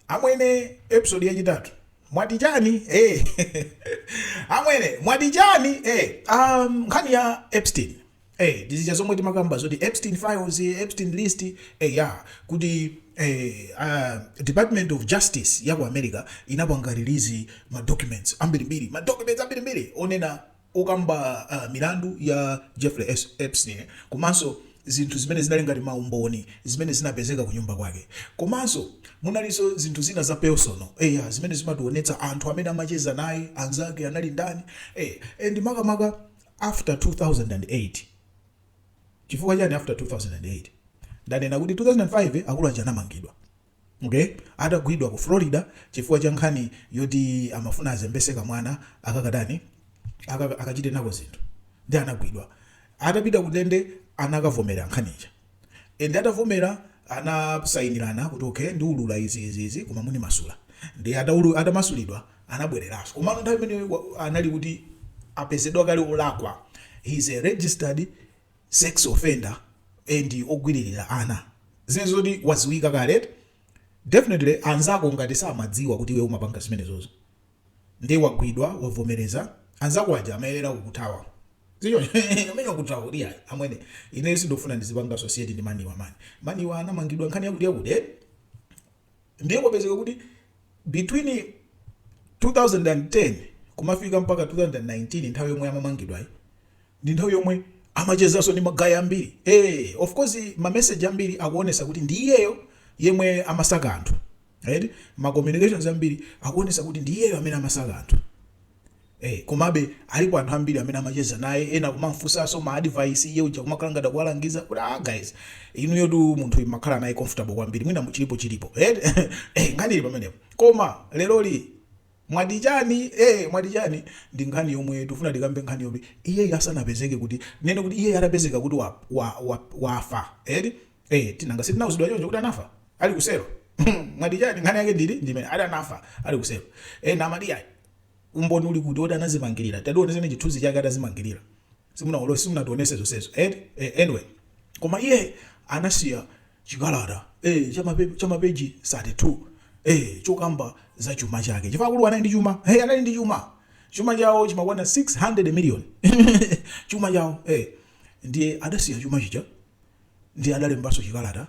Amwene episode yachitatu mwati chani eh amwene mwati chani eh um nkhani ya Epstein eh ndizija zomwe timakamba zoti Epstein files Epstein list eh ya kuti eh uh, Department of Justice ya ku America inapanga release ma documents ambirimbiri ma documents ambirimbiri onena okamba milandu ya Jeffrey Epstein komanso zinthu zimene zinali ngati ma umboni zimene zinapezeka kunyumba kwake. Komanso munalinso zinthu zina za personal eya zimene zimationetsa anthu amene amacheza naye, anzake anali ndani eya and makamaka after 2008. Chifukwa chani after 2008? Ndanena kuti 2005 akulu aja anamangidwa. Mre atagwidwa ku Florida chifukwa cha nkhani yoti amafuna azembetse kamwana akakatani akaka akachite nako zinthu nde anagwidwa atapita kundende anakavomera nkhani ija and atavomera anasayinirana kuti ok ndiwulula izi izi izi koma munimasula nde ataulula atamasulidwa anabwereranso komano nthawi imeneyo anali kuti apezedwa kale olakwa he is a registered sex offender and ogwiririra ana zili zoti waziwika kale eti definitely anzako ngati samadziwa kuti iwe umapanga zimenezozo nde wagwidwa wavomereza anzako aja amayenera kukuthawa sichoncho amene akuthawa kuti ayi amwene ineyo sindofuna ndizipanga associate ndi man awa mani man awa anamangidwa nkhani yakuti yakuti eti Ndiye kwapezeka kuti between 2010 kumafika mpaka 2019 nthawi yomwe amamangidwayi ndi nthawi yomwe amachezanso ndi magayi ambiri eh, of course ma message ambiri akuonesa kuti ndi iyeyo yemwe amasaka anthu right? ma communications ambiri akuonesa kuti ndi iyeyo amene amasaka anthu Eee komabe alipo anthu ambiri amene amacheza naye ena kumamufunsaso ma advice iye uja kumakhala ngati akuwalangiza kuti aah guys inuyotu munthuyu mmakhala naye comfortable kwambiri mwina chilipochilipo eti eeh nkhani ili pamenepo koma leroli mwati chani eeh mwati chani ndi nkhani yomwe tikufuna tikambe nkhani yoti iyeyu asanapezeke kuti tinene kuti iyeyu atapezeka kuti wa wa wa wafa eti Eti nanga sitinauzidwa choncho kuti anafa ali kuselo mwati chani nkhani yake ndili ndimene ati anafa ali kuselo ena amati yayi umboni uli kuti woti anazimangirira tatiwonetseni chithunzi chake atazimangirira simunawolose simunationese zonsezo eti eh, anyway koma iye anasiya chikalata eh, cha mape- cha mapeji 32 eh, chokamba za chuma chake chifukwa akulu anali ndi chuma hey, anali ndi chuma chuma chawo chimakwana 600 million chuma chawo eh, ndiye adasiya chuma chija ndiye adalembanso chikalata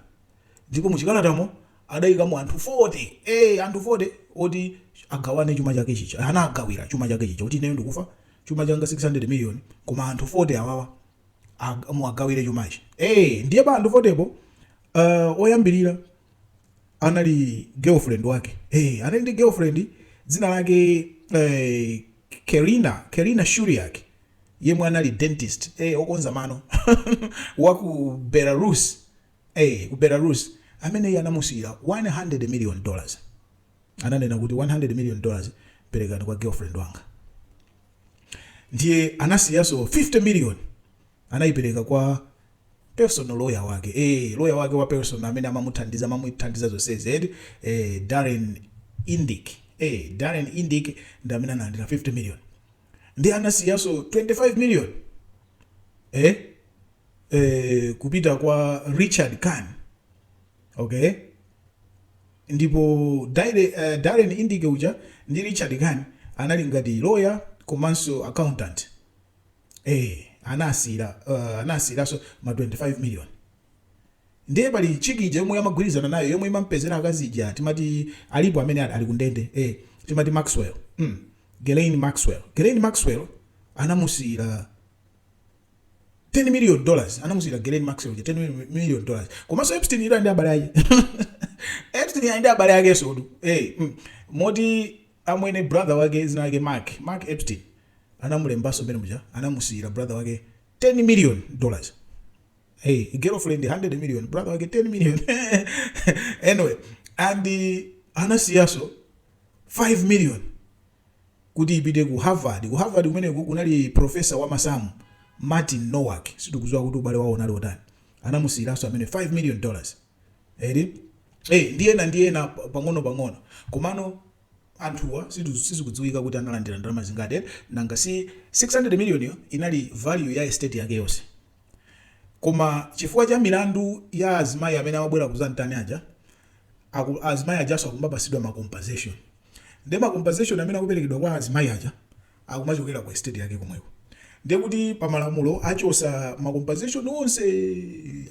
ndipo muchikalatamo adaikamo anthu 40 ee anthu 40 oti agawane chuma chake chija anagawira chuma chake chija kuti ineyo ndikufa chuma changa 600 million koma anthu 40 awawa ag- muwagawire chumachi ee ndiye pa anthu 40 po uh, oyambirira anali girlfriend wake hey, anali ndi girlfriend dzina lake eh, Karyna Karyna Shuliak yemwe anali dentist ee okonza mano wa ku belarus ee ku belarus ameneyi anamusiyira 100 million dollars ananena kuti 100 million dollars perekani kwa girlfriend wanga ndiye anasiyaso 50 million anayipereka kwa personal lawyer wake eh lawyer wake wa personal amene amamuthandiza amamuthandiza zonsezi eti eh Darren Indyke eh Darren Indyke ndi amene analandira 50 million ndiye anasiyaso 25 million eh? Eh, kupita kwa richard kahn okay ndipo Dare- eh, darren indyke uja ndi richard kahn anali ngati lawyer komanso accountant eh, anasiyira uh, anasiyiraso ma 25 million Ndiye pali chick ija yomwe amagwirizana nayo yomwe imamupezera akazi ija timati alipo amene ali ku ndende eh timati Maxwell mm Ghislaine Maxwell Ghislaine Maxwell anamusiyira 10 million dollars anamusiyira Ghislaine Maxwell ija 10 million dollars komanso Epstein ira ndi abale ake Epstein ira ndi abale ake so eh mm. moti amwene brother wake dzina lake Mark Mark Epstein anamulembaso mbere muja anamusiyira brother wake 10 million dollars hey girlfriend 100 million brother wake 10 million anyway and uh, anasiyaso 5 million kuti ipite ku harvard ku harvard kumeneku kunali profesa wa masamu martin nowak sitikuziwa kuti ubale wawo unali otani anamusiyiranso ameneyo 5 million dollars eri eh ndi ena ndi ena pa- pang'ono pang'ono komano anthuwa situ- sizikudziwika kuti analandira ndalama zingati eh? nanga si 600 million yo inali value ya estate yake yonse Koma chifukwa cha milandu ya azimayi amene amabwera kuzantani aja, aku azimayi ajaso akumapasidwa ma compensation. Ndiye ma compensation amene akuperekedwa kwa azimayi aja akumachokera ku estate yake komweko. Ndiye kuti pamalamulo achosa ma compensation onse,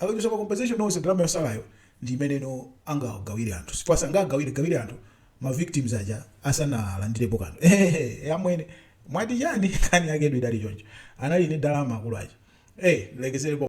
akachosa ma compensation onse ndalama yosalayo ndi imeneno angagawire anthu chifukwa sangagawiregawire anthu. ma victims aja asanalandilepo kanthu eeh amwene mwati chani nkhani yaketu idali choncho anali ndi dalama akulu aja eeh ndilekeselepo.